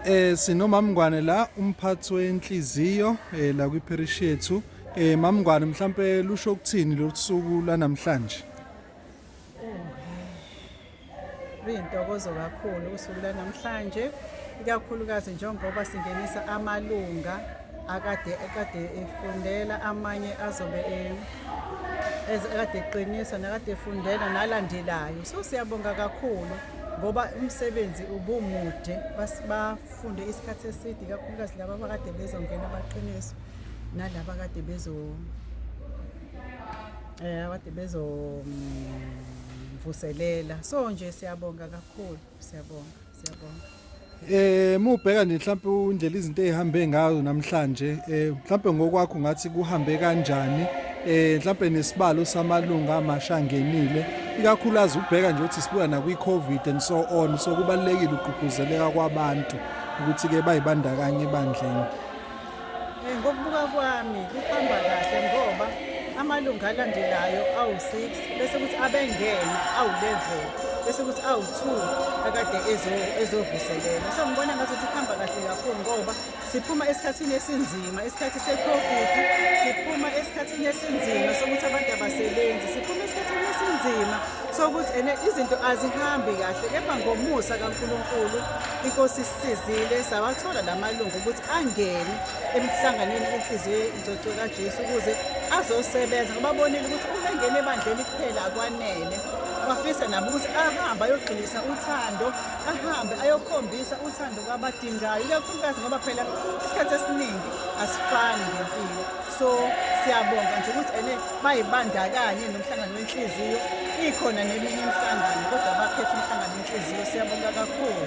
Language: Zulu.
Eh sinomamngwane la umphathi wenhliziyo eh la kwi parish yethu. Eh mamngwane mhlambe lusho ukuthini losuku lanamhlanje? Kuyintokozo kakhulu usuku lanamhlanje ikakhulukazi njengoba singenisa amalunga akade ekade efundela amanye azobe e- eze- ekade eqiniswa nakade efundela nalandelayo so siyabonga kakhulu ngoba umsebenzi ubumude bafunde isikhathi eside kakhulukazi laba abakade bezongena amaqiniso nalaba kade bezo eh abade bezo mm, mvuselela so nje siyabonga kakhulu siyabonga siyabonga Eh mubheka nje mhlawumbe undlela izinto ezihambe ngayo namhlanje eh mhlawumbe ngokwakho ngathi kuhambe kanjani eh mhlawumbe nesibalo samalunga amasha ngenile ikakhulukazi ubheka nje ukuthi sibuya nakwi covid and so on so kubalekile ukugqugquzeleka kwabantu ukuthi ke bayibandakanye ebandleni Eh, ngokubuka kwami kuhamba kahle ngoba amalungu alandelayo awu-six bese kuthi abengene awu-level bese kuthi awu-two akade ezovuselela so ngibona ngathi ukuthi kuhamba kahle kakhulu ngoba siphuma esikhathini esinzima isikhathi se-covid siphuma esikhathini esinzima sokuthi abantu abasebenzi siphuma esikhathini esinzima sokuthi ene izinto azihambi kahle kepha ngomusa kankulunkulu inkosi Sizile sawathola la malungu ukuthi angene emhlanganweni enhliziyo ingcwecwe kaJesu ukuze azosebenza ngoba bonile ukuthi uma engena ebandleni kuphela akwanele bafisa nabo ukuthi ahambe ayogxilisa uthando ahambe ayokhombisa uthando kwabadingayo ikakhulukazi ngoba phela isikhathi esiningi asifani ngempilo so siyabonga nje ukuthi ene bayibandakanye nomhlangano wenhliziyo ikhona neminye imihlangano kodwa bakhetha umhlangano wenhliziyo siyabonga kakhulu